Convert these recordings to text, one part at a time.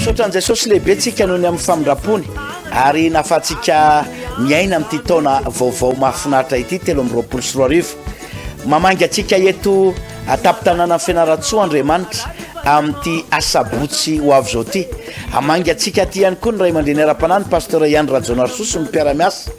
Misaotra an'i Jesosy lehibe tsika noho ny amin'ny famindrampony ary nahafahantsika miaina amin'ity taona vaovao mahafinaritra ity telo amby roapolo sy roa arivo. Mamainga antsika eto an-tampon-tanànan'i Fianarantsoa Andriamanitra amin'ity asabotsy ho avy izao ity. Hamainga antsika aty ihany koa ny ray aman-dreny ara-panahy ny Pasteur Ihany Rajaonarisoa sy ny mpiara-miasa.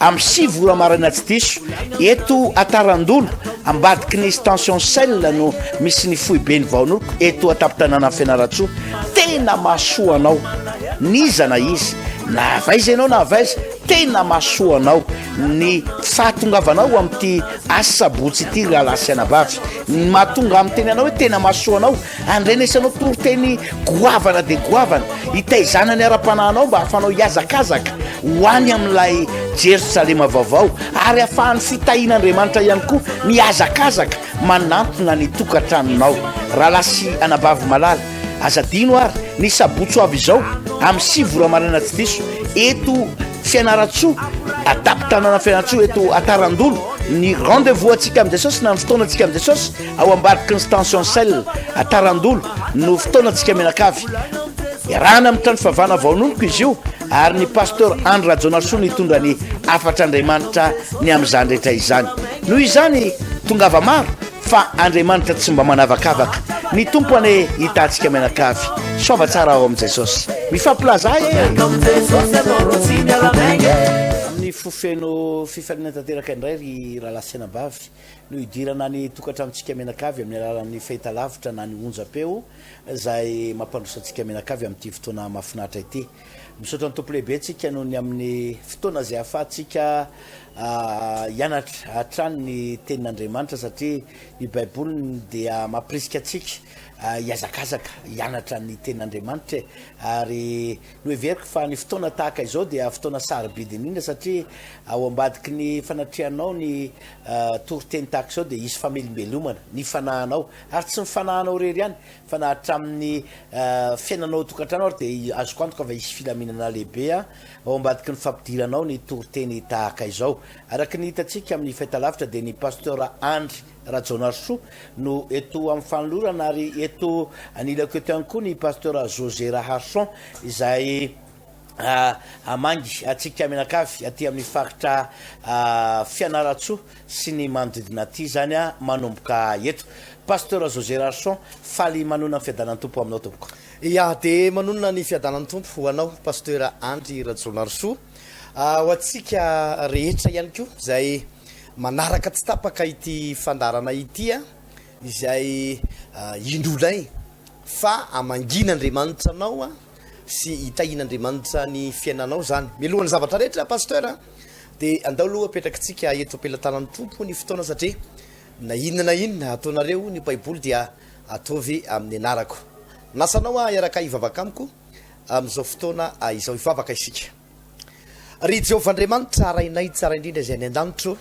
Amin'ny sivy ora maraina tsy diso, eto Atarandona, ambadiky ny Station Shell no misy ny foiben'ny Vaonoko eto an-tampon-tanànan'i Fianarantsoa. Tena mahasoa anao n'iza na iza, na avy aiza ianao na avy aiza, tena mahasoa anao ny fahatongavanao amin'ity asabotsy ity rahalahy sy anabavy. Ny mahatonga ahy miteny anao hoe tena mahasoa anao Andrenesanao toriteny goavana dia goavana, hitaizana ny ara-panahinao mba hahafahanao hihazakazaka ho any amin'ilay Jerosalema vaovao, ary hahafahan'ny fitahian'Andriamanitra ihany koa mihazakazaka manantona ny tokantranonao. Rahalahy sy anabavy malala, aza adino àry, ny sabotsy ho avy izao, amin'ny sivy ora maraina tsy diso, eto Fianarantsoa, an-tampon-tanàna Fianarantsoa, eto Atarandolo, ny rendez-vous antsika amin'i Jesosy, na ny fotoanantsika amin'i Jesosy, Ao ambadiky ny Stention Cell à Tarandolo no fotoanantsika mianakavy. Iarahana amin'ny trano fivavahana vaonomiko izy io ary ny Pasteur Andry Rajaonarisoa no hitondra ny hafatr'Andriamanitra ny amin'izany rehetra izany. Noho izany, tongava maro fa Andriamanitra tsy mba manavakavaka. Ny Tompo anie hitantsika mianakavy. Soava tsara ao amin'i Jesosy. Mifampilaza ahy e! Amin'ny fo feno fifaliana tanteraka indray ry rahalahy sy anabavy. no hidirana ny tokantranontsika mianakavy amin'ny alalan'ny fahitalavitra na ny onjam-peo izay mampandroso antsika mianakavy amin'ity fotoana mahafinaritra ity. Misaotra ny Tompo lehibe tsika noho ny amin'ny fotoana izay ahafahantsika hianatra hatrany ny tenin'Andriamanitra satria ny Baiboly dia mampirisika antsika hihazakazaka hianatra ny tenin'Andriamanitra e ary Noheveriko fa ny fotoana tahaka izao dia fotoana sarobidy indrindra satria ao ambadiky ny fanatrehanao ny toriteny tahaka izao dia hisy famelombelomana ny fanahinao, ary tsy ny fanahinao irery ihany fa na hatramin'ny fiainanao ao an-tokantrano ary dia azoko antoka fa hisy filaminana lehibe ao ambadiky ny fampidiranao ny toriteny tahaka izao. Araka ny hitantsika amin'ny fahitalavitra dia ny Pasteur Andry Rajaonarisoa no eto amin'ny fanolorana ary eto anilako eto ihany koa ny Pasteur José Raharison izay hamangy antsika mianakavy aty amin'ny faritra Fianarantsoa sy ny manodidina aty izany manomboka eto. Pasteur José Raharison, faly manonona ny fiadanan'ny Tompo aminao tompoko. Ia, dia manonona ny fiadanan'ny Tompo ho anao Pasteur Andry Rajaonarisoa, ho antsika rehetra ihany koa izay Manaraka tsy tapaka ity fandaharana ity izay indronay fa hamangiana Andriamanitra anao sy hitahian'Andriamanitra ny fiainanao izany. Mialohan'ny zavatra rehetra Pasteur dia andao aloha apetrakintsika eto am-pelatanan'ny Tompo ny fotoana satria na inona na inona ataonareo ny Baiboly dia ataovy amin'ny anarako. Minasa anao aho hiaraka hivavaka amiko amin'izao fotoana izao. Hivavaka isika. Ry Jehovah Andriamanitra, Rainay tsara indrindra izay any an-danitra ô,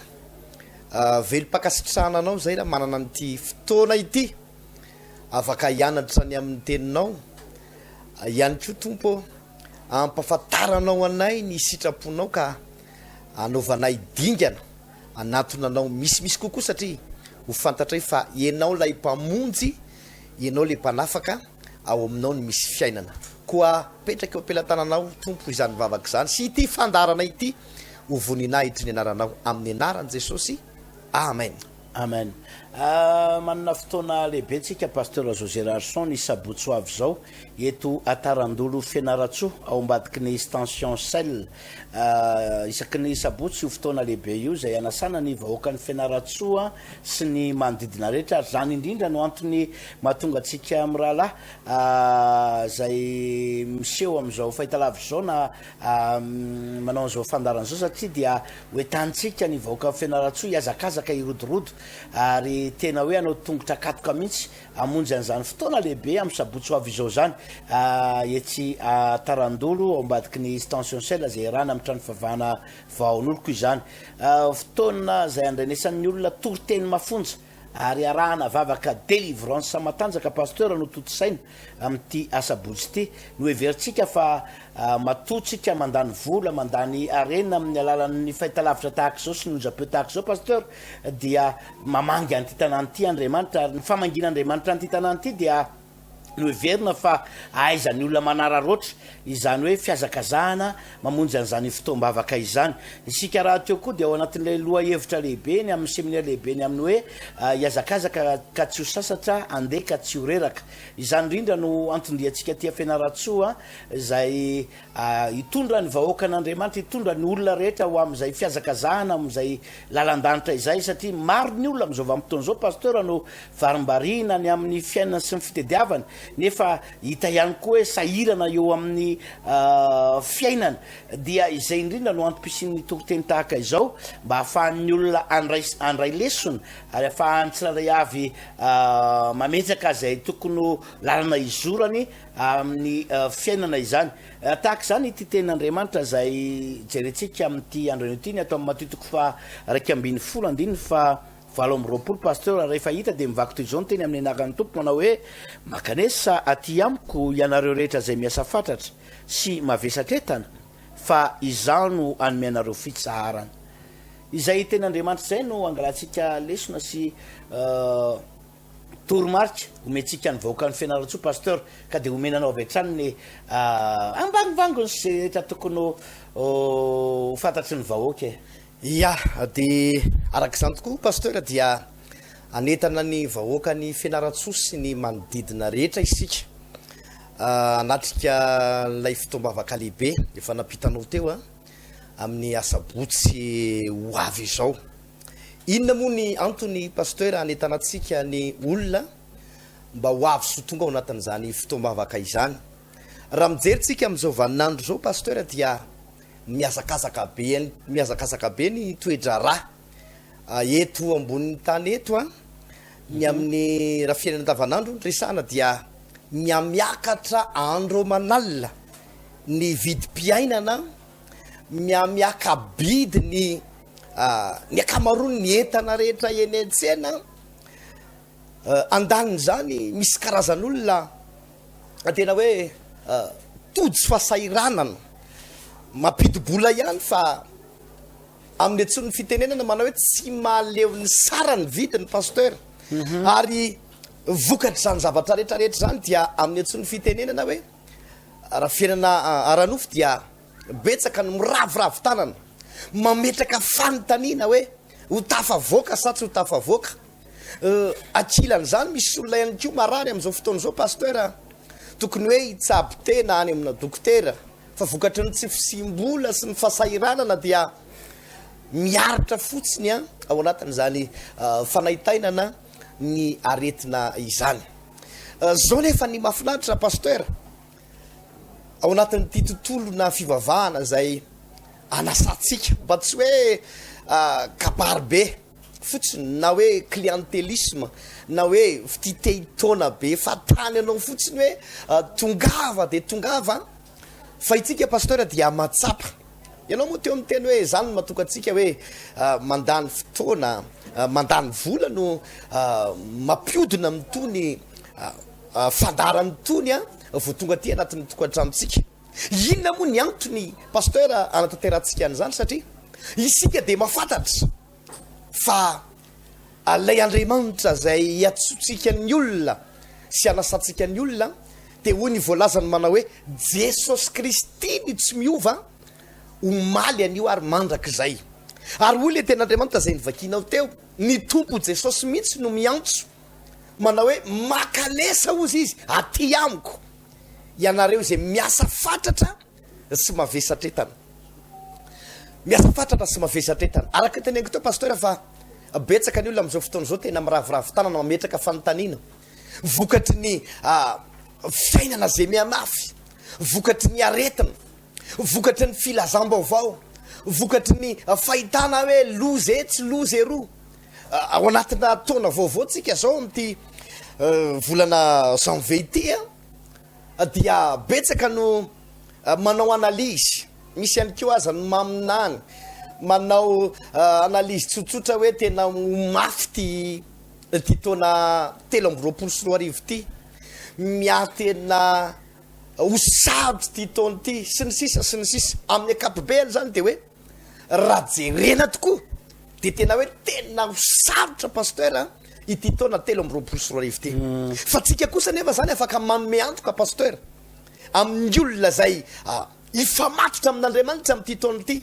velom-pankasitrahana Anao izay raha manana an'ity fotoana ity afaka hianatra ny amin'ny Teninao ihany koa, Tompo ô, ampahafantaranao anay ny sitraponao ka anaovanay dingana hanatona Anao misimisy kokoa satria ho fantatray fa Ianao ilay Mpamonjy, Ianao ilay Mpanafaka. Ao Aminao no misy fiainana. Koa apetrako eo am-pelatananao, Tompo, izany vavaka izany sy ity fandaharana ity ho voninahitry ny Anaranao. Amin'ny Anaran'i Jesosy, Amen. Amen. Manana fotoana lehibe tsika Pasteur José Rarson ny sabotsy ho avy izao eto Atarandolo Fianarantsoa ao ambadiky ny Stension Shell. Isaky ny sabotsy io fotoana lehibe io izay hanasana ny vahoakan'i Fianarantsoa. sy ny manodidina rehetra ary izany indrindra no antony mahatonga antsika mirahalahy izay miseho amin'izao fahitalavitra izao na manao an'izao fandaharana izao satria dia hoentantsika ny vahoakan'i Fianarantsoa hihazakazaka hirodorodo ary tena hoe hanao tongotra katoka mihitsy hamonjy an'izany fotoana lehibe amin'ny sabotsy ho avy izao izany etsy Tarandolo ao ambadiky ny Stantion Shell izay iarahana amin'ny trano fivavahana Vahaoloko izany. Fotoana izay andrenesan'ny olona toriteny mafonja ary arahana vavaka délivrance matanjaka Pasteur no tontosaina amin'ity asabotsy ity. Noheverintsika fa matoa tsika mandany vola, mandany harena amin'ny alalan'ny fahitalavitra tahaka izao sy ny onjam-peo tahaka izao Pasteur dia mamangy an'ity tanàna ity Andriamanitra ary ny famangian'Andriamanitra an'ity tanàna ity dia no heverina fa ahaizan'ny olona manararaotra izany hoe fihazakazahana mamonjy an'izany fotoam-bavaka izany. Isika rahateo koa dia ao anatin'ilay lohahevitra lehibe ny amin'ny seminera lehibe ny amin'ny hoe Hihazakazaka ka tsy ho sasatra, handeha ka tsy ho reraka. Izany indrindra no anton-diantsika aty Fianarantsoa izay Hitondra ny vahoakan'Andriamanitra, hitondra ny olona rehetra ho amin'izay fihazakazahana, amin'izay lalan-danitra izay, satria maro ny olona amin'izao vanim-potoana izao Pasteur no varimbariana ny amin'ny fiainany sy ny fitediavany, nefa hita ihany koa hoe sahirana eo amin'ny fiainany. Dia izay indrindra no antom-pisian'ny toriteny tahaka izao, mba hahafahan'ny olona handray handray lesona, ary hahafahan'ny tsirairay avy mametraka izay tokony ho lalana izorany amin'ny fiainana izany. Tahaka izany ity tenin'Andriamanitra izay jerentsika amin'ity andronay ity, ny ato amin'ny Matio toko faha iraika ambin'ny folo andininy faha valo amby roapolo, Pasteur raha rehefa hita dia mivaky toy izao ny teny amin'ny anaran'ny Tompo manao hoe, Mankanesa aty amiko ianareo rehetra izay miasa fatratra sy mavesatra entana fa Izaho no hanome anareo fitsaharana. Izay tenin'Andriamanitra izay no angalantsika lesona sy. Toromarika omentsika ny vahoakan'i Fianarantsoa Pasteur ka dia omena anao avy hatrany ny ambangovangony sy izay rehetra tokony ho fantatry ny vahoaka e. Ia, dia araka izany tokoa Pasteur dia hanentana ny vahoakan'i Fianarantsoa sy ny manodidina rehetra isika hanatrika ilay fotoam-bavaka lehibe efa nampitanao teo amin'ny asabotsy ho avy izao. Inona moa ny antony Pasteur hanentanantsika ny olona mba ho avy sy ho tonga ao anatin'izany fotoam-bavaka izany? Raha mijery tsika amin'izao vanin'andro izao Pasteur dia mihazakazaka be mihazakazaka be ny toe-draharaha eto ambonin'ny tany eto an! Ny amin'ny raha fiainana andavan'andro no resahana dia mihamiakatra andro aman'alina ny vidim-piainana, mihamiaka-bidy ny Ny ankamaroan' ny entana rehetra eny an-tsena andanin' izany, misy karazan' olona tena hoe tojo fahasahiranana mampidi-bola ihany fa amin' ny antsoin' ny fitenenana manao hoe tsy mahaleo ny sara ny vidiny Pasteur ary vokatr' izany zavatra rehetra rehetra izany dia amin' ny antsoin' ny fitenenana hoe raha fiainana ara-nofo dia Betsaka no miraviravy tanana mametraka fanontaniana hoe ho tafavoaka sa tsy ho tafavoaka. Ankilan'izany misy olona ihany koa marary amin'izao fotoana izao Pasteur a! Tokony hoe hitsabo tena any amina dokotera fa vokatry ny tsy fisiam-bola sy ny fasahiranana dia miaritra fotsiny a! ao anatin'izany fanaintainana ny aretina izany. Zao nefa ny mafinaritra Pasteur ao anatin'ity tontolona fivavahana izay anasantsika mba tsy hoe kabary be fotsiny na hoe clientelisme na hoe fitia te hitaona be fa tany anao fotsiny hoe tongava dia tongava fa itsika pasteur dia mahatsapa ianao moa teo miteny hoe izany no matoka antsika hoe mandany fotoana mandany vola no mampiodina amin'itony fandaharana itony a vao tonga aty anatin'ny tokantranontsika. Inona moa ny antony Pasteur hanatanterantsika an'izany satria isika dia mafantatra fa Ilay Andriamanitra izay hiantsoantsika ny olona sy hanasantsika ny olona dia hoy ny voalazany manao hoe Jesosy Kristy ny tsy miova omaly anio ary mandrakizay. Ary hoy ilay tenin'Andriamanitra izay novakinao teo, ny Tompo Jesosy mihitsy no miantso. manao hoe makalesa ozy izy aty amiko ianareo izay miasa fatratra sy mavesatretana miasa fatratra sy mavesatretana araka ny teneniko teo pasteur fa betsaka ny olona amin'izao fotoana izao tena miraviravy tanana mametraka fanontaniana vokatry ny ah, fiainana izay mianafy vokatry ny aretina vokatry ny filazam-baovao vokatry ny fahitana hoe loza e tsy loza eroa Ao anatina taona vaovao tsika zao amty volana janvier ity a dia betsaka no manao analyse misy ihany koa aza no maminany manao analyse tsotsotra hoe tena ho mafy ty ty taona telo amby roapolo sy roa arivo ty miahy tena ho sarotra ty taona ty sy ny sisa sy ny sisa amin'ny akapobeany zany de hoe Raha jerena tokoa dia tena hoe tena ho sarotra Pasteur a, ity taona telo amby roapolo sy roa arivo ity. Fa tsika kosa anefa zany afaka manome antoka Pasteur amin'ny olona izay hifamatotra amin'Andriamanitra amin'ity taona ity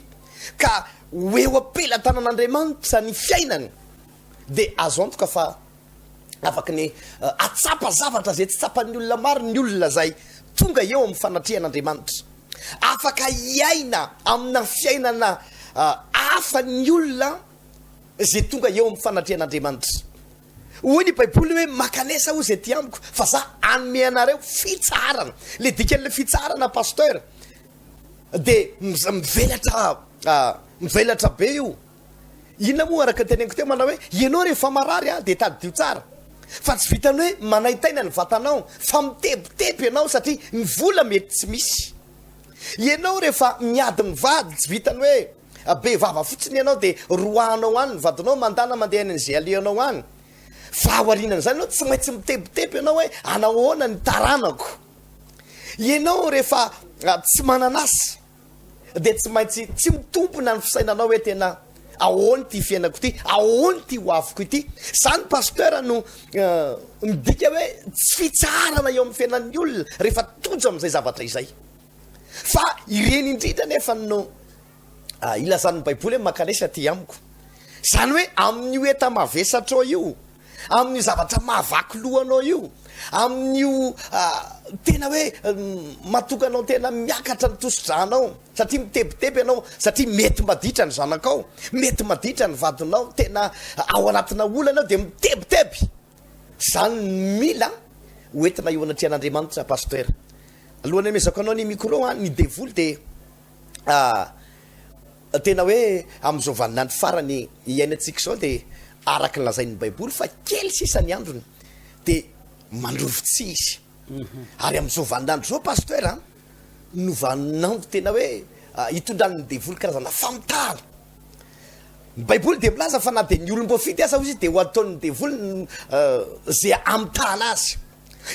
ka ho eo am-pelatanan'Andriamanitra ny fiainany dia azo antoka fa afaky ny hahatsapa zavatra izay tsy tsapan'ny olona maro ny olona izay tonga eo amin'ny fanatrehan'Andriamanitra. Afaka hiaina amina fiainana hafa ny olona izay tonga eo amin'ny fanatrehan'Andriamanitra. Hoy ny Baiboly hoe, Mankanesa hoy izay ety amiko, fa za hanome anareo fitsaharana. Ilay dikan'ilay fitsaharana Pasteur dia mivelatra mivelatra be io. Inona moa araka ny teneniko teo manao hoe ianao rehefa marary an dia tadidio tsara fa tsy vitan'ny hoe manaintaina ny vatanao fa mitebiteby ianao satria ny vola mety tsy misy. Ianao rehefa miady mivady tsy vitan'ny hoe be vava fotsiny ianao dia roahanao any ny vadinao mandana mandeha any an'izay alehanao any fa aorianan'izany ianao tsy maintsy mitebiteby ianao hoe hanao ahoana ny taranako. Ianao rehefa tsy manan'asa. Dia tsy maintsy tsy mitompona ny fisainanao hoe tena ahoana ity fiainako ity, ahoana ity ho aviko ity. Izany Pasteur no midika hoe tsy fitsaharana eo amin'ny fiainan'ny olona rehefa tojo amin'izay zavatra izay. Fa ireny indrindra anefa no ilazan'ny baiboly hoe mankanesa aty amiko. Izany hoe amin'io enta-mavesatrao io. Amin'io zavatra mahavaky loha anao io, amin'io tena hoe matonga anao tena miakatra ny tosi-dra anao, satria mitebiteby ianao, satria mety maditra ny zanakao, mety maditra ny vadinao, tena ao anatina olana dia mitebiteby. Izany no mila ho entina eo anatrehan'Andriamanitra Pasteur. Alohan'ny hamezako anao ny micro, ny devoly dia Tena hoe amin'izao vaninandro farany iainantsika izao dia araka ny lazain'ny Baiboly fa kely sisa ny androny dia mandroso tsy hisy. Ary amin'izao vaninandro izao Pasteur an, no vaninandro tena hoe hitondran'ny devoly karazana famitahana. Ny Baiboly dia milaza fa na dia ny olom-boafidy aza hoy izy dia ho ataon'ny devoly izay hamitahana azy.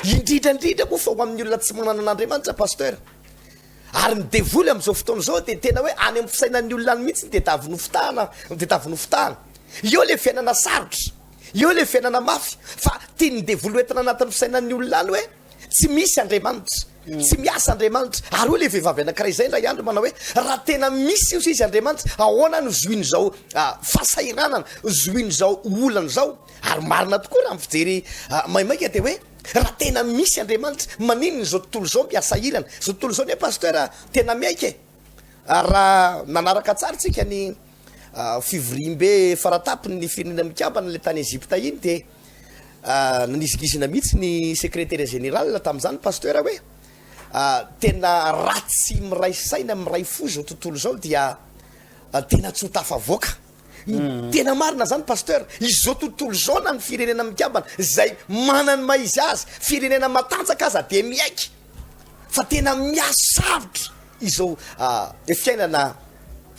Indrindra indrindra moa fa ho amin'ny olona tsy manana an'Andriamanitra Pasteur. Ary ny devoly amin'izao fotoana izao dia tena hoe any amin'ny fisainan'ny olona any mihitsy ny tedavy nofitahana, ny tedavy nofitahana. Eo ilay fiainana sarotra, eo ilay fiainana mafy, fa tian'ny devoly ho entina anatin'ny fisainan'ny olona any hoe tsy misy Andriamanitra, tsy miasa Andriamanitra. Ary hoy ilay vehivavy anankiray izay indray andro manao hoe raha tena misy io sisa Andriamanitra, ahoana no zohin'izao fahasahiranana, zohin'izao olana izao? Ary marina tokoa raha ny fijery maimaika dia hoe. Raha tena misy Andriamanitra, maninona izao tontolo izao miasa ilana? Izao tontolo izao anie Pasteur tena miaiky e! Raha nanaraka tsara tsika ny fivoriambe faratapony ny firenena mikambana ilay tany Egypta iny dia nanizingizina mihitsy ny Secretaire Général tamin'izany Pasteur hoe tena raha tsy miray saina miray fo izao tontolo izao dia tena tsy ho tafavoaka. Tena marina zany Pasteur, izao tontolo izao na ny firenena mikambana zay mana ny maha izy azy, firenena matanjaka aza dia miaiky fa tena mihasarotra izao fiainana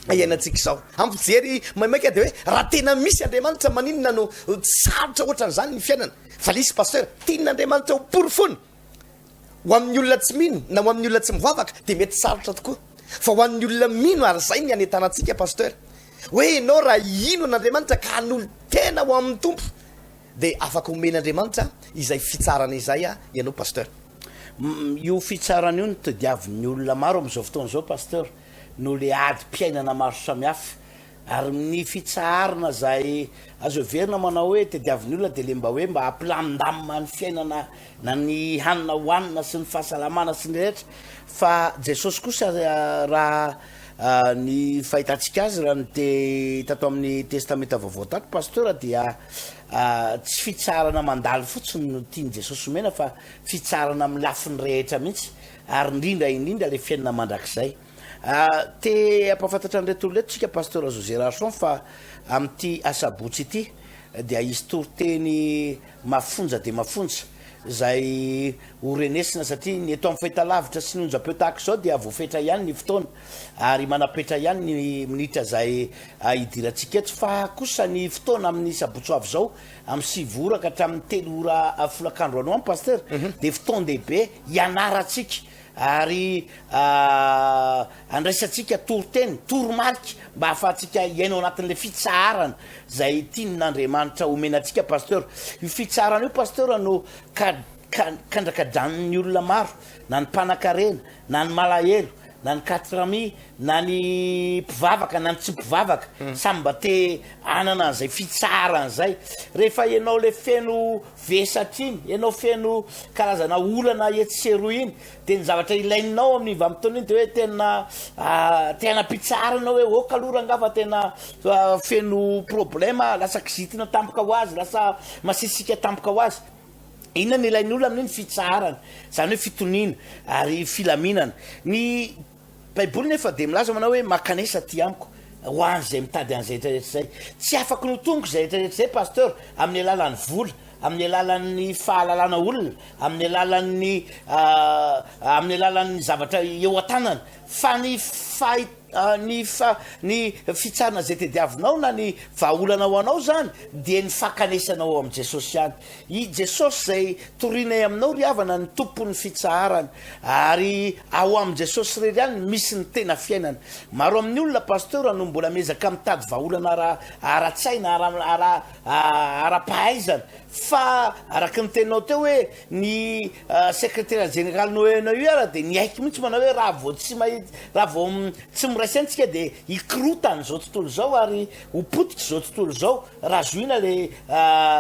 iainantsika izao. Ampijery maimaika dia hoe raha tena misy Andriamanitra maninona no sarotra ohatran'izany ny fiainana. Fa lisy Pasteur, tian'Andriamanitra ho porofoina. Ho amin'ny olona tsy mino na ho amin'ny olona tsy mivavaka dia mety sarotra tokoa. Fa ho an'ny olona mino ary izay ny hanentanantsika Pasteur. Hoe ianao raha hino an'Andriamanitra ka hanolo-tena ho amin'ny Tompo dia afaka homen'Andriamanitra izay fitsarana izay ianao Pasteur. Io fitsarana io no tadiavin'ny olona maro amin'izao fotoana izao Pasteur noho ilay adim-piainana maro samihafa Ary mny fitsaharana zay azo heverina manao hoe tediavin'ny olona dia le mba hoe mba hampilamindamina ny fiainana na ny hanina hohanina sy ny fahasalamana sy ny rehetra fa Jesosy kosa raha ny fahitantsika azy raha ny te tato amin'ny testamenta vaovao tato Pasteur dia tsy fitsaharana mandalo fotsiny no tian'i Jesosy omena fa fitsaharana amin'ny lafiny rehetra mihitsy ary indrindra indrindra le fiainana mandrakizay. Te hampahafantatra an'ireto olona ireto tsika Pasteur José Rarson fa amin'ity asabotsy ity dia hisy toriteny mafonja dia mafonja izay ho renesina satria ny eto amin'ny fahitalavitra sy ny onjam-peo tahaka izao dia voafetra ihany ny fotoana ary manapetra ihany ny minitra izay hidirantsika eto fa kosa ny fotoana amin'ny sabotsy ho avy izao amin'ny sivy ora ka hatramin'ny telo ora folakandro any ho any Pasteur mhm. dia fotoan-dehibe hianarantsika ary andraisantsika toriteny, toromarika mba hahafahantsika hiaina ao anatin'ilay fitsaharana izay tian'Andriamanitra homena antsika Pasteur. Io fitsaharana io Pasteur no kandrakadran'ny olona maro, na ny mpanakarena, na ny malahelo, na ny katrami, na ny mpivavaka, na ny tsy mpivavaka, samy mba te hanana an'izay fitsaharana izay. Rehefa ianao ilay feno Vesatra iny, ianao feno karazana olana etsy sy eroa iny, dia ny zavatra ilainao amin'iny vanim-potoana iny dia hoe tena te hanam-pitsahara ianao hoe ok aloha rangaha fa tena feno problema, lasa kizitina tampoka ho azy, lasa masisika tampoka ho azy. Inona no ilain'ny olona amin'iny? Fitsaharana, izany hoe fitoniana ary filaminana. Ny. Baiboly nefa dia milaza manao hoe makanesa aty amiko ho an izay mitady an izay rehetra izay. Tsy afaka ny ho tonoko izay rehetra rehetra izay Pasteur amin'ny alalan'ny vola, amin'ny alalan'ny fahalalana olona, amin'ny alalan'ny amin'ny alalan'ny zavatra eo an-tanana fa ny fahit ny fa ny fitsarana izay tediavinao na ny vahaolana ho anao izany dia ny fakanesanao ao amin'i Jesosy ihany. I Jesosy izay torinay aminao ry havana ny Tompon'ny fitsaharana. Ary ao amin'i Jesosy irery ihany no misy ny tena fiainana. Maro amin'ny olona Pasteur no mbola miezaka mitady vahaolana ara ara-tsaina, ara ara ara-pahaizana. Fa araka ny teninao teo hoe ny Secretaire Général no ENEUR dia niaiky mihitsy manao hoe raha vao tsy mahi raha vao tsy miray saina isika dia hikorotana izao tontolo izao ary ho potika izao tontolo izao raha zohina ilay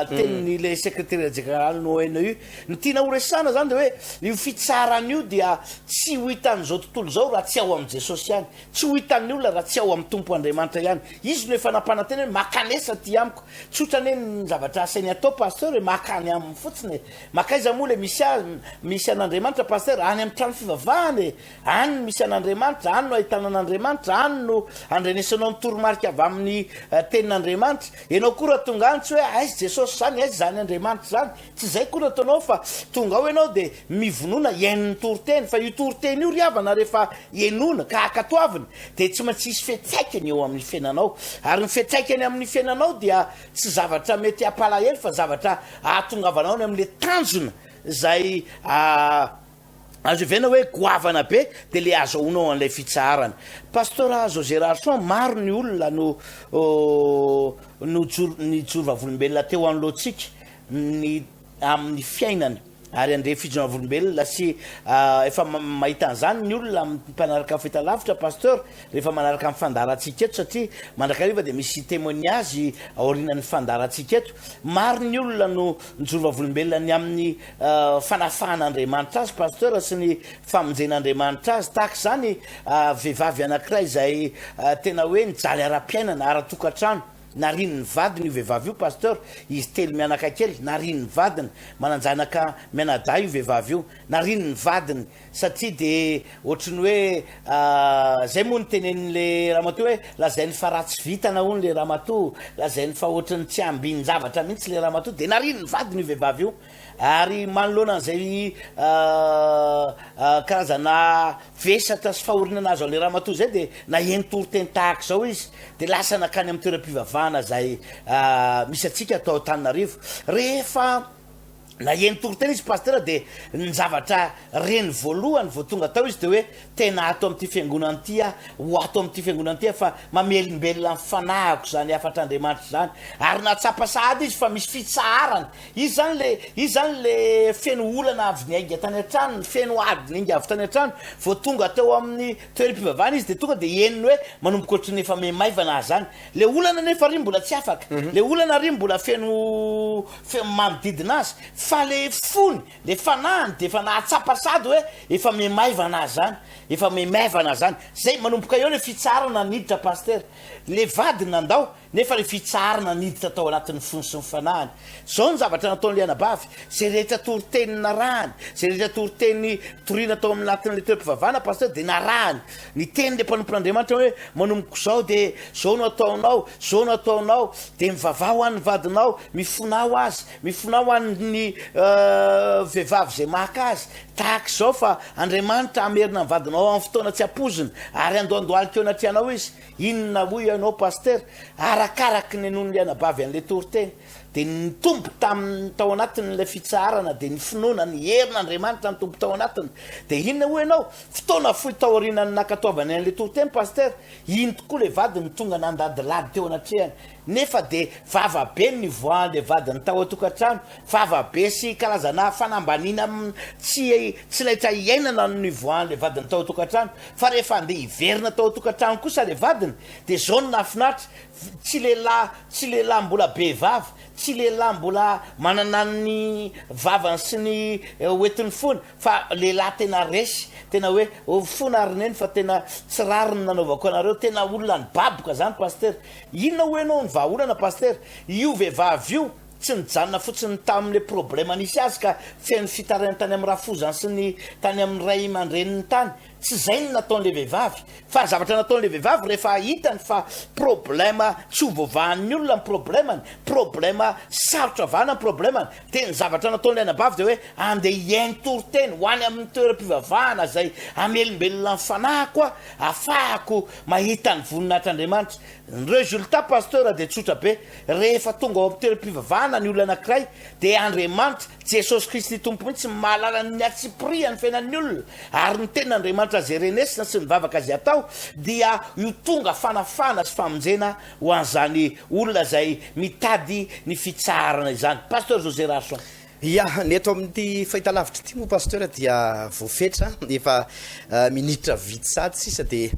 tenin'ilay Secretaire Général no ENEUR. Ny tiana horesahana izany dia hoe io fitsarana io dia tsy ho hitan'izao tontolo izao raha tsy ao amin'i Jesosy ihany. Tsy ho hitan'ny olona raha tsy ao amin'ny Tompo Andriamanitra ihany. Izy no efa nampanantena hoe makanesa aty amiko. Tsotra anie ny zavatra asainy atao Pasteur e, maka any aminy fotsiny e. Makaiza moa ilay misy azy, misy an'Andriamanitra Pasteur? Any amin'ny trano fivavahana e. Any no misy an'Andriamanitra, any no ahitana an'Andriamanitra, any no andrenesanao ny toromarika avy amin'ny tenin'Andriamanitra. Ianao koa raha tonga any tsy hoe aiza Jesosy izany, aiza izany Andriamanitra izany. Tsy izay akory no ataonao fa tonga ao ianao dia mivonona hihaino ny toriteny fa io toriteny io ry havana rehefa henoina ka ankatoavina dia tsy maintsy hisy fiantraikany eo amin'ny fiainanao ary ny fiantraikany amin'ny fiainanao dia tsy zavatra mety hampalahelo fa zavatra ahatongavanao any amin'ilay tanjona izay Azo evena hoe goavana be de le azahoanao an'ilay fitsaharana. Pasteur Zo Gérard Soin, maro ny olona no nojoro nijoro vavolombelona teo anoloantsika ny amin'ny fiainany ary handre fijoroana vavolombelona sy efa mahita an'izany ny olona amin'ny mpanaraka fahitalavitra Pasteur rehefa manaraka ny fandaharantsika eto satria mandrakariva dia misy témoignage aorianan'ny fandaharantsika eto. Maro ny olona no nijoro vavolombelona ny amin'ny fanafahan'Andriamanitra azy Pasteur sy ny famonjen'Andriamanitra azy tahaka izany vehivavy anankiray izay tena hoe nijaly ara-piainana, ara-tokantrano, narian'ny vadiny io vehivavy io Pasteur, izy telo mianakakely, narian'ny vadiny, manan-janaka mianadahy io vehivavy io, narian'ny vadiny, Satria dia ohatry ny hoe zay moa no tenenin'le ramatoa hoe lazainy fa ratsy vitana hono le ramatoa, lazainy fa ohatry ny tsy ambin-javatra mihitsy le ramatoa, dia nariany ny vadiny io vehivavy io ary manoloana an'izay karazana vesatra sy fahorianana azo an'le ramatoa izay dia naheno toriteny tahaka izao izy dia lasa nakany amin'ny toeram-pivavahana izay misy antsika ato Antananarivo rehefa Naheno toriteny izy Pasitera dia ny zavatra reny voalohany vao tonga tao izy dia hoe tena ato amin'ity fiangonana ity aho, ho ato amin'ity fiangonana ity aho fa mamelombelona ny fanahiko izany hafatr'Andriamanitra izany. Ary nahatsapa sahady izy fa misy fitsaharana. Izy izany ilay, izy izany ilay feno olana avy niainga tany an-tranony, feno ady niainga avy tany an-trano, vao tonga teo amin'ny toeram-pivavahana izy dia tonga dia henony hoe manomboka ohatry ny efa miha maivana aza any. Le olana nefa ary mbola tsy afaka, le olana ary mbola feno fe- manodidina azy, fa le fony, le fanahiny dia efa nahatsapa sady hoe efa mihamaivana azy zany, efa mihamaivana azy zany, zay manomboka eo le fitsaharana niditra Pasitera, le vadiny nandao nefa le fitsaharana niditra tao anatin'ny fony sy ny fanahiny, zao ny zavatra nataon'ilay anabavy, zay rehetra toriteny narahany, zay rehetra toriteny toriana tao amin'ny anatin'ilay toeram-pivavahana Pasitera dia narahany, Ny tenin'ilay mpanompon'Andriamanitra hoe, Manomboka izao dia izao no ataonao, izao no ataonao, dia mivavaha ho an'ny vadinao, mifona ho azy, mifona ho an'ny vehivavy izay maka azy, tahaka izao, fa Andriamanitra hamerina ny vadinao amin'ny fotoana tsy ampoizina, ary andohandohalika eo anatrehanao izy. Inona hoy ianao, Pasitera? Arakaraky ny nonon'ny anabavy an'ilay toriteny. Dia ny nitombo tamin'ny tao anatin'ilay fitsaharana dia ny finoana ny herin'Andriamanitra nitombo tao anatiny. Dia inona hoy ianao? Fotoana fohy taorianan'ny nankatoavany an'ilay toriteny, Pasitera, iny tokoa ilay vady no tonga nandadilady teo anatrehany. Nefa dia vava be no nivoahan'ilay vadiny tao an-tokantrano. Vava be sy karazana fanambaniana tsy tsy laitra hiainana no nivoahan'ilay vadiny tao an-tokantrano. Fa rehefa andeha hiverina tao an-tokantrano kosa ilay vadiny, dia izao no nahafinaritra, Tsy lehilahy, tsy lehilahy mbola be vava, tsy lehilahy mbola manana ny vavany sy ny hoetiny fona fa lehilahy tena resy, tena hoe ovy fona ry neny fa tena tsy rariny nanaovako anareo, tena olona nibaboka zany Pasitera. Inona hoy enao ny vahaolana Pasitera? Io vehivavy io tsy nijanona fotsiny tamin le problema nisy azy ka feno fitarainany tany amin'ny rafozany sy ny tany amin'ny ray aman-dreniny tany, Tsy izay no nataon'ilay vehivavy, fa ny zavatra nataon'ilay vehivavy rehefa hitany fa problème tsy ho voavahan'ny olona ny problème-ny, problème sarotra vahana ny problème-ny, dia ny zavatra nataon'ilay anabavy dia hoe andeha hihaino toriteny, ho any amin'ny toeram-pivavahana izay hamelombelona ny fanahiko aho, hahafahako mahita ny voninahitr'Andriamanitra. Ny résultat Pasteur dia tsotra be, rehefa tonga ao amin'ny toeram-pivavahana ny olona anankiray dia Andriamanitra, Jesosy Kristy Tompo mihitsy no mahalala ny miatsipirihan'ny fiainan'ny olona ary ny tena Andriamanitra izay renesina sy ny vavaka izay atao dia io tonga fanafahana sy famonjena ho an'izany olona izay mitady ny fitsaharana izany Pasteur José Rarson. Ya, ny eto amin'ity fahitalavitra ity moa Pasteur dia voafetra efa minitra vitsy sahady sisa dia.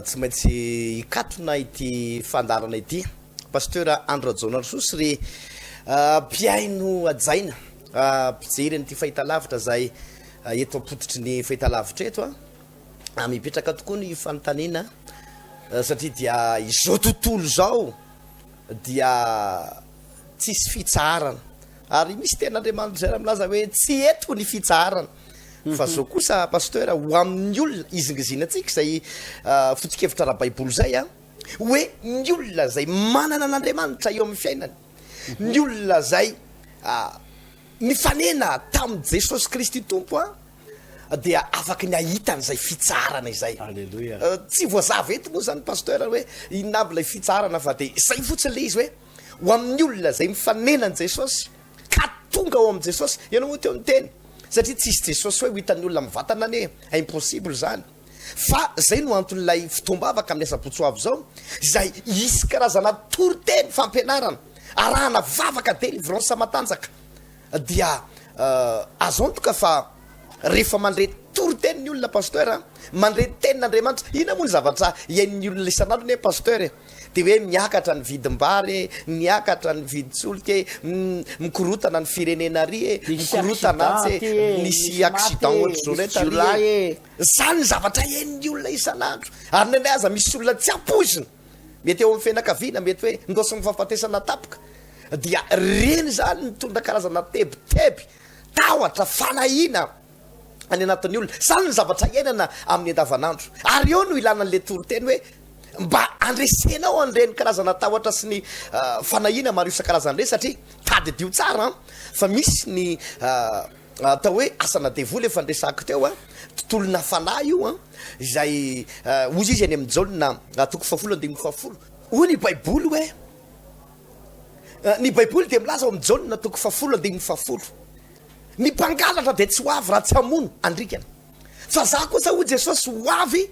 Tsy maintsy hikatona ity fandaharana ity Pasteur Andry Rajaonarisoa sy re mpihaino hajaina mpijery an'ity fahitalavitra izay eto am-pototry ny fahitalavitra eto a. Mipetraka tokoa ny fanontaniana satria dia izao tontolo izao dia tsisy fitsaharana ary misy tenin'Andriamanitra izay raha milaza hoe tsy eto ny fitsaharana. Fa zao kosa Pasteur, ho amin'ny olona izingizina antsika izay foto-kevitra ara-baiboly izay an, hoe ny olona izay manana an'Andriamanitra eo amin'ny fiainany, ny olona izay nifanena tamin'i Jesosy Kristy Tompo an, dia afaka ny hahita an'izay fitsaharana izay. Aleloia. Tsy voazava eto moa izany Pasteur hoe inona aby ilay fitsaharana fa dia izay fotsiny ilay izy hoe ho amin'ny olona izay mifanena an'i Jesosy Ka tonga ao amin'i Jesosy. Ianao moa teo niteny. Satria tsisy Jesosy hoe ho hitan'ny olona amin'ny vatana anie e. Impossible izany. Fa izay no anton'ilay fotoam-bavaka amin'ny asabotsy ho avy izao, izay hisy karazana toriteny fampianarana, arahana vavaka, delivrance matanjaka. Dia azo antoka fa. Rehefa mandre toriteny ny olona Pasteur a, mandre tenin'Andriamanitra, inona moa ny zavatra iain'ny olona isan'andro anie Pasteur e, dia hoe miakatra ny vidim-bary e, miakatra ny vidin-tsolika e, mikorotana ny firenena ary e, mikorotana atsy e, misy accident ohatr'izao rehetra ary e, izany ny zavatra iain'ny olona isan'andro, ary indraindray aza misy olona tsy ampoizina, mety eo amin'ny fianakaviana, mety hoe nidôsin'ny fahafatesana tapoka, dia ireny izany mitondra karazana tebiteby, tahotra, fanahiana any anatin'ny olona. Izany no zavatra iainana amin'ny andavanandro. Ary eo no ilana an'ilay toriteny hoe mba andresenao an'ireny karazana tahotra sy ny fanahiana maro isan-karazany ireny satria tadidio tsara fa misy ny atao hoe asana devoly efa niresahako teo a, tontolona fanahy io a, izay hoy izy any amin'ny Jaona toko fahafolo andininy fahafolo. Hoy ny Baiboly hoe. Ny Baiboly dia milaza ao amin'ny Jaona toko fahafolo andininy fahafolo, Ny mpangalatra dia tsy ho avy raha tsy hamono andrikana. Fa izaho kosa, hoy Jesosy, ho avy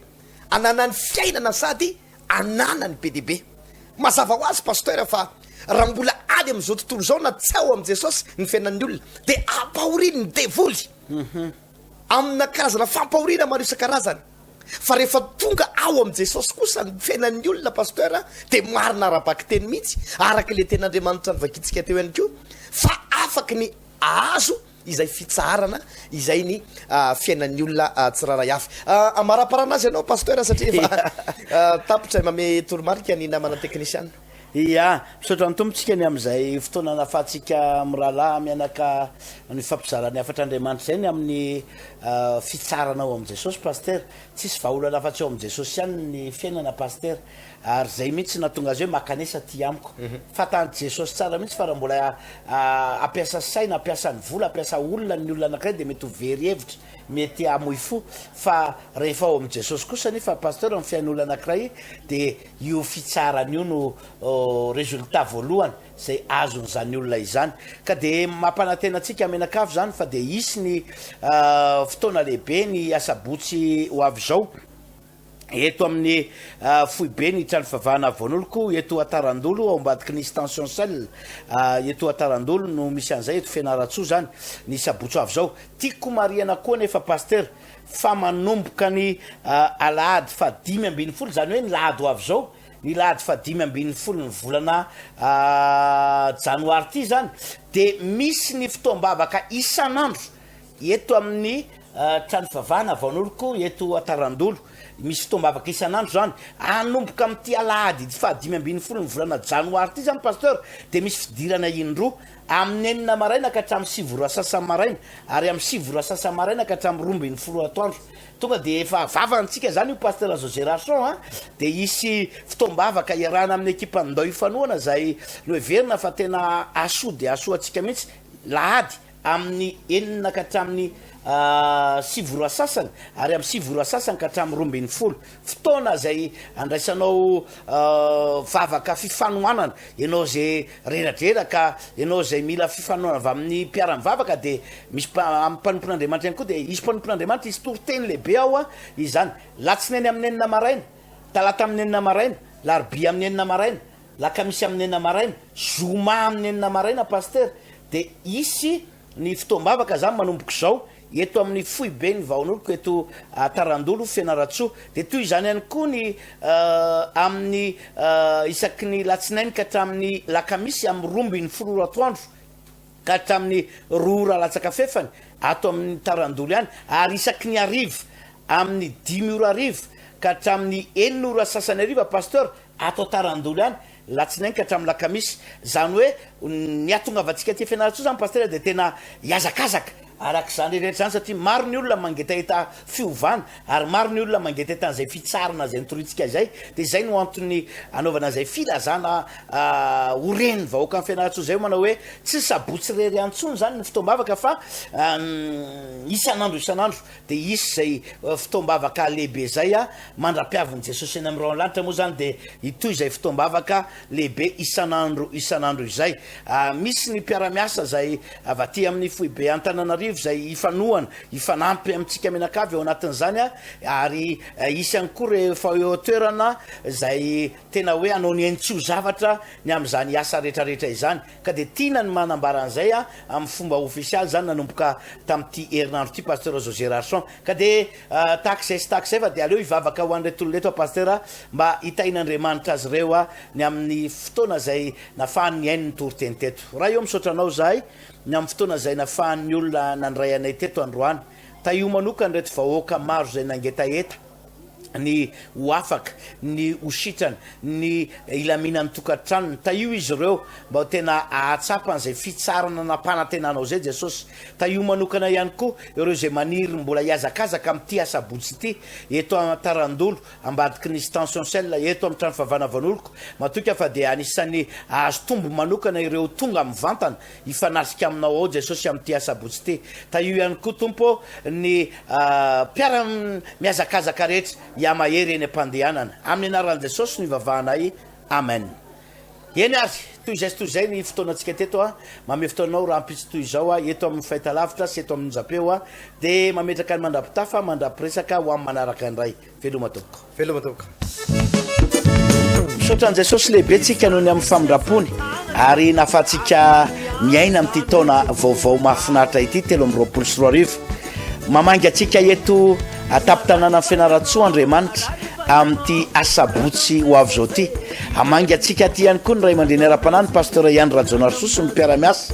hananany fiainana sady hananany be dia be. Mazava ho azy, Pasteur, fa raha mbola any amin'izao tontolo izao na tsy ao amin'i Jesosy ny fiainan'ny olona, dia ampahorin'ny devoly. Amina karazana fampahoriana maro isan-karazany. Fa rehefa tonga ao amin'i Jesosy kosa ny fiainan'ny olona Pasteur dia marina ara-bakiteny mihitsy, araka ilay tenin'Andriamanitra novakintsika teo ihany koa, fa afaky ny ahazo izay fitsaharana izay ny fiainan'ny olona tsirairay avy. Amaraparana azy ianao Pasteur satria efa tapitra, mamehy toromarika ny namana teknisiana. Ia, misaotra ny Tompo tsika ny amin'izay fotoana nahafahantsika mirahalahy mianaka ny fampizarana ny hafatra Andriamanitra izay ny amin'ny fitsarana ao amin'i Jesosy Pasteur. Tsisy vahaolana afa-tsy ao amin'i Jesosy ihany ny fiainana Pasteur. Ary izay mihitsy nahatonga azy hoe makanesa aty amiko. Fantan'i Jesosy tsara mihitsy fa raha mbola hampiasa saina, hampiasa ny vola, hampiasa olona ny olona anankiray dia mety ho very hevitra, mety hamoy fo. Fa rehefa ao amin'i Jesosy kosa anefa Pasteur ny fiain'olona anankiray dia Io fitsarana io no résultat voalohany izay azon'izany olona izany. Ka dia mampanantena antsika mianakavy izany fa dia hisy ny fotoana lehibe ny asabotsy ho avy izao eto amin'ny foiben'ny trano fivavahana Voan'oloko eto Atarandolo ao ambadiky ny Stention Cell eto Atarandolo no misy an'izay eto Fianarantsoa izany ny sabotsy ho avy izao. Tiako marihana koa anefa Pasitera fa manomboka ny alahady faha dimy ambin'ny folo, izany hoe ny lahady ho avy izao, ny lahady faha dimy ambin'ny folon'ny volana janoary ity izany, dia misy ny fotoam-bavaka isan'andro eto amin'ny trano fivavahana Vaon'oriko eto Antarandolo. Misy fotoam-bavaka isan'andro izany. Hanomboka amin'ity alahady faha dimy ambin'ny folon'ny volana janoary ity izany Pasteur dia misy fidirana indroa Amin'ny enina maraina ka hatramin'ny sivy ora sasany maraina, ary amin'ny sivy ora sasany maraina ka hatramin'ny roa ambin'ny folo ora atoandro. Tonga dia efa vava antsika izany io Pasteur José Rachon a! Dia hisy fotoam-bavaka hiarahana amin'ny ekipan'ny Ndao Ifanohana izay noheverina fa tena hahasoa dia hahasoa antsika mihitsy, lahady amin'ny enina ka hatramin'ny sivy ora sasany, ary amin'ny sivy ora sasany ka hatramin'ny roa ambin'ny folo. fotoana izay andraisanao vavaka fifanohanana, ianao izay reradreraka, ianao izay mila fifanohanana avy amin'ny mpiara-mivavaka dia misy amin'ny mpanompon'Andriamanitra ihany koa, dia hisy mpanompon'Andriamanitra hisy toriteny lehibe ao izany, latsinainy amin'ny enina maraina, talata amin'ny enina maraina, larobia amin'ny enina maraina, lakamisy amin'ny enina maraina, zoma amin'ny enina maraina pasitera dia hisy. Ny fotoam-bavaka zany manomboka izao eto amin'ny foiben'ny vahonoloko eto Tarandolo, Fianarantsoa. Dia toy izany ihany koa ny amin'ny isaky ny latsinainy ka hatramin'ny lakamisy amin'ny roa ambin'ny folo ora atoandro ka hatramin'ny roa ora latsaka fefany ato amin'ny Tarandolo ihany ary isaky ny hariva amin'ny dimy ora hariva ka hatramin'ny enina ora sasany hariva Pasteur ato Tarandolo ihany ny latsinainy ka hatramin'ny lakamisy, izany hoe ny hahatongavantsika aty Fianarantsoa izany Pasitera dia tena hihazakazaka araka izany rehetra izany satria maro ny olona mangetaheta fiovana ary maro ny olona mangetaheta an'izay fitsarana izay notorintsika izay dia izay no antony anaovana izay filazana ho ren'ny vahoakan'i Fianarantsoa izay manao hoe tsy ny sabotsy irery ihany intsony izany ny fotoam-bavaka fa isan'andro isan'andro Dia hisy izay fotoam-bavaka lehibe izay mandra-piavin'i Jesosy eny amin'ny rahona lanitra moa izany dia hitohy izay fotoam-bavaka lehibe isan'andro isan'andro izay. Misy ny mpiara-miasa izay avy aty amin'ny foibe Antananarivo izay hifanohana, hifanampy amintsika mianakavy ao anatin'izany ary hisy ihany koa rehefa eo an-toerana izay tena hoe hanao ny hain-tsoa zavatra ny amin'izany asa rehetra rehetra izany. Ka dia tiana ny manambara an'izay a, amin'ny fomba ofisialy izany nanomboka tamin'ity herinandro ity Pasteur José Rarson. Ka dia tahaka izay sy tahaka izay fa dia aleo hivavaka ho an'ireto olona ireto aho Pasteur a, mba hitahin'Andriamanitra azy ireo a, ny amin'ny fotoana izay nafahany nihaino ny toriteny teto. Ray ô misaotra anao izahay ny amin'ny fotoana izay nafahan'ny olona nandray anay teto androany. Tahio manokana ireto vahoaka maro izay nangetaheta. ny ho afaka, ny ho sitrana, ny hilaminan'ny tokantranony. Tahio izy ireo mba ho tena hahatsapa an'izay fitsarana nampanantenanao izay Jesosy. Tahio manokana ihany koa ireo izay maniry mbola hihazakazaka amin'ity asabotsy ity, eto Antarandolo, ambadiky ny Stention Cell, eto amin'ny Trano Fahavana Vanolko. Matoky aho fa dia anisan'ny hahazo tombony manokana ireo tonga mivantana, Hifanasika aminao ao Jesosy amin'ity asabotsy ity. Tahio ihany koa Tompo ny mpiara mihazakazaka rehetra hihamahery eny am-pandehanana. Amin'ny anaran'i Jesosy no ivavahanay. Amen. Eny ary, toy izay sy toy izay ny fotoanantsika teto an. Mamehy fotoananao rahampitso toy izao aho eto amin'ny fahitalavitra sy eto amin'ny onjam-peo dia mametraka ny mandrapitafa mandra-piresaka ho amin'ny manaraka indray. Veloma tompoko. Veloma tompoko. Misaotra an'i Jesosy lehibe tsika noho ny amin'ny famindrampony ary nahafahantsika miaina amin'ity taona vaovao mahafinaritra ity telo amin'ny roapolo sy roa arivo. Mamangy antsika eto atapin-tanàna Fianaratsoa Andriamanitra amin'ity asabotsy ho avy izao ity. Hamangy antsika aty ihany koa ny ray aman-dreny ara-panahy ny pasteur Ihany Rajaonarisoa sy ny mpiara-miasa.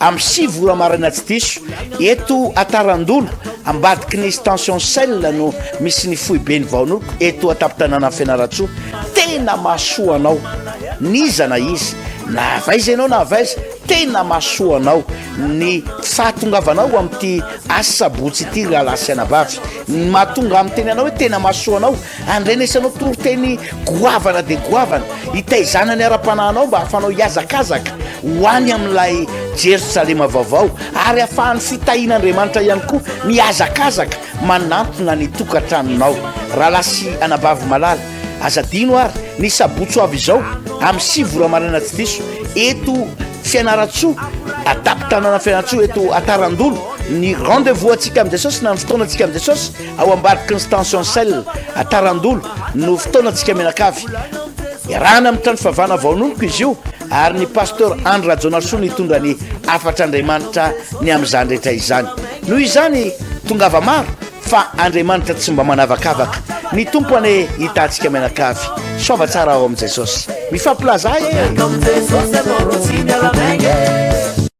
Am sivy ora maraina tsy diso, eto Atarandona, ambadiky ny Stention Shell no misy ny foiben'ny Vaonoko eto an-tampon-tanànan'i Fianarantsoa. Tena mahasoa anao n'iza na iza, na avy aiza ianao na avy aiza, tena mahasoa anao ny fahatongavanao amin'ity asabotsy ity rahalahy sy anabavy. Ny mahatonga ahy miteny anao hoe tena mahasoa anao Andrenesanao toriteny goavana dia goavana, hitaizana ny ara-panahinao mba hahafahanao hihazakazaka ho any amin'ilay Jerosalema vaovao, ary hahafahan'ny fitahian'Andriamanitra ihany koa mihazakazaka manantona ny tokantranonao. Rahalahy sy anabavy malala, aza adino àry, ny sabotsy ho avy izao, amin'ny sivy ora maraina tsy diso, eto Fianarantsoa, an-tampon-tanàna Fianarantsoa, eto Atarandolo, ny rendez-vous antsika amin'i Jesosy na ny fotoanantsika amin'i Jesosy, Ao ambadiky ny Stention Cell à Tarandolo no fotoanantsika mianakavy. Iarahana amin'ny trano fivavahana vaonomiko izy io ary ny Pasteur Andry Rajaonarisoa no hitondra ny hafatr'Andriamanitra ny amin'izany rehetra izany. Noho izany, tongava maro fa Andriamanitra tsy mba manavakavaka. Ny Tompo anie hitantsika mianakavy. Soava tsara ao amin'i Jesosy. Mifampilaza ahy e!